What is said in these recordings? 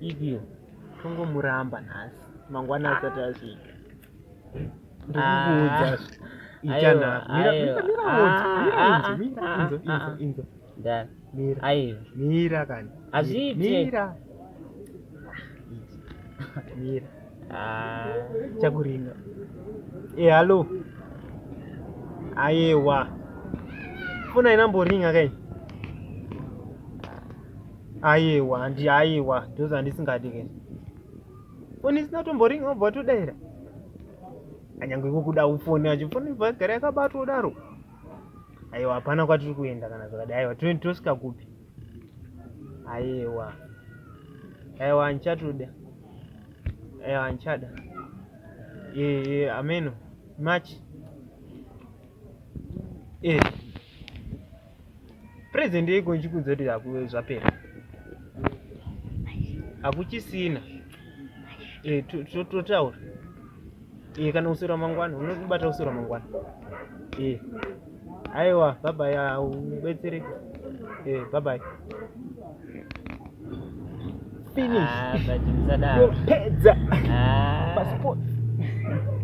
Idiyo tongomuramba nhasi mangwana asati asvika ndikukuudza mira kani azviitemira mira chakuringa e hallo ayewa fona inamboringa kai Ayewa handi ayewa those andisingadi ke. Phone isina tomboring obva todaira. Anyangwe kukuda uphone acho phone ibva gara yakabatwa udaro. Ayewa hapana kwatiri kuenda kana zvakadai. Ayewa tosvika kupi? Ayewa. Ayewa andichatoda. Ayewa andichada. Eh eh ameno. Match. Eh. Present yeko ichikudza kuti akuwe zvapera. Akuchisina. Eh totaura. Eh kana usura mangwana unobata usura mangwana. Eh. Aiwa bye bye ubetsereke. Eh bye bye. Finish. Ah, but msadaro. Pedza. Ah. Passport.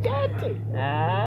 Tete. Ah.